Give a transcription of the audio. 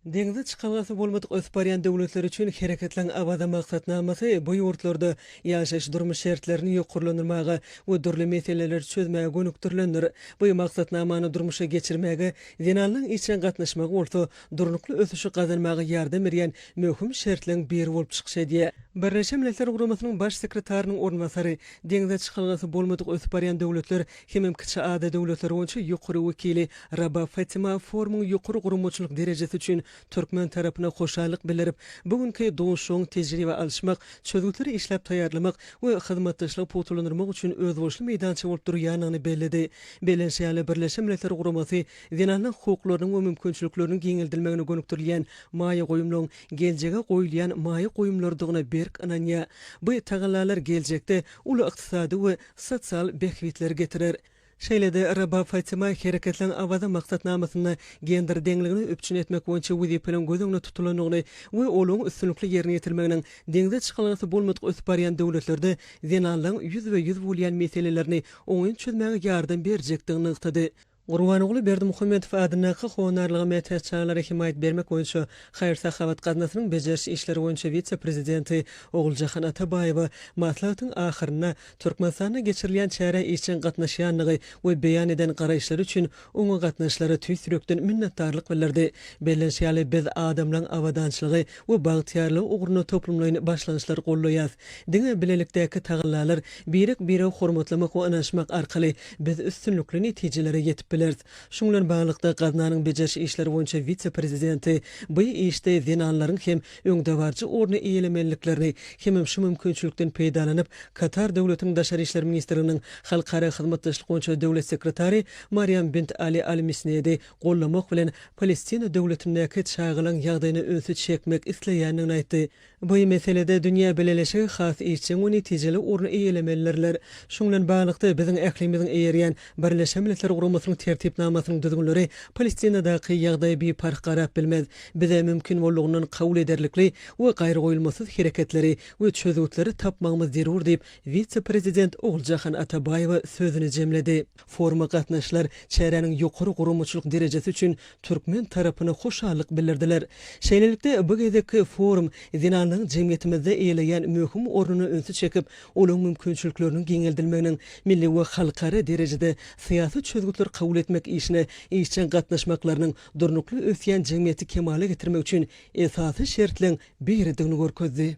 Deňze çykalgasy bolmadyk ösüp barýan döwletler üçin Hereketleň Awaza maksatnamasy bu ýurtlarda ýaşaýyş-durmuş şertlerini ýokarlandyrmaga we dürli meseleleri çözmäge gönükdirilendir. Bu maksatnamany durmuşa geçirmäge zenanlaryň işjeň gatnaşmagy bolsa durnukly ösüşi gazanmaga ýardam berýän möhüm şertleň biri bolup çykyş edýär. Birleşen Milletler Guramasynyň Baş sekretarynyň orunbasary, Deňze çykalgasy bolmadyk ösüp barýan döwletler hemem kiçi ada döwletleri boýunça ýokary wekili Raba Fatima forumyň ýokary guramaçylyk derejesi üçin türkmen tarapyna hoşallyk bildirip, bu günki duşuşygyň tejribe alyşmak, çözgütleri işläp taýýarlamak we hyzmatdaşlygy pugtalandyrmak üçin özboluşly meýdança bolup durýandygyny belledi. Bellenşýaly, Birleşen Milletler Guramasy zenanlaryň hukuklarynyň we mümkinçilikleriniň giňeldilmegine gönükdirilýän maýa goýumlaryň geljege goýulýan maýa goýumlarydygyna berk ynanýar. Bu tagallalar geljekde uly ykdysady we sosial bähbitleri getirer. Şeýle-de, Rabaa Fatima hereketleň Awaza maksatnamasynda gender deňligini üpjün etmek boýunça wezipeleriň göz öňünde tutulandygyny we olaryň üstünlikli ýerine ýetirilmeginiň deňze çykylgasy bolmadyk ösüp barýan döwletlerde zenanlaryň ýüzbe-ýüz bolýan meselelerini oňyn çözmäge ýardam berjekdigini nygtady. Gurbanguly Berdimuhamedow adyndaky Honarlyga mätäç çagalara hemaýat bermek boýunça haýyr-sahawat gaznasynyň bejeriş işleri boýunça wise-prezidenti Oguljahan Atabaýewa maslahatyň ahyrynda Türkmenistanda geçirilýän çärä işjeň gatnaşýandygy we beýan eden garaýyşlary üçin oňa gatnaşyjylara tüýs ýürekden minnetdarlyk bildirdi. Bellenişi ýaly, biz adamlaryň abadançylygy we bagtyýarlygy ugrunda toplumlaýyn başlangyçlary goldaýas. Diňe bilelikdäki tagallalar, birek-biregi hormatlamak we ynanyşmak arkaly biz üstünlikli netijelere ýetip bileris. Şuň bilen baglylykda, gaznanyň bejeriş işleri boýunça wise-prezidenti bu işde zenanlaryň hem öňdebaryjy orny eýelemelidiklerini hemem şu mümkinçilikden peýdalanyp, Katar Döwletiniň Daşary işler ministrliginiň Halkara hyzmatdaşlyk boýunça döwlet sekretary Mariam bint Ali Al Misnedi gollamak bilen Palestina döwletindäki çagalaň ýagdaýyna ünsi çekmek isleýändigini aýtdy. Bu meselede dünýä bileleşigi has işjeň we netijeli orun eýelemelidirler. Şunuň bilen baglylykda, biziň ählimiziň eýerýän Birleşen Milletler Guramasynyň Tertipnamasynyň düzgünleri Palestinadaky ýagdaýa biparh garap bilmez. Bize mümkin boldugyndan kabul ederlikli we gaýragoýulmasyz hereketleri we çözgütleri tapmagymyz zerur diýip, wise-prezident Oguljahan Atabaýewa sözüni jemledi. Foruma gatnaşylar çäräniň ýokary guramaçylyk derejesi üçin türkmen tarapyna hoşallyk bildirdiler. Şeýlelikde, bu gezekki forum zenanlaryň jemgyýetimizde eýeleýän möhüm ornuna ünsi çekip, olaryň mümkinçilikleriniň giňeldilmeginiň, milli we halkara derejede syýasy çözgütleri kabul etmek işine işjeň gatnaşmaklarynyň durnukly ösýän jemgyýeti kemala getirmek üçin esasy şertleň biridigini görkezdi.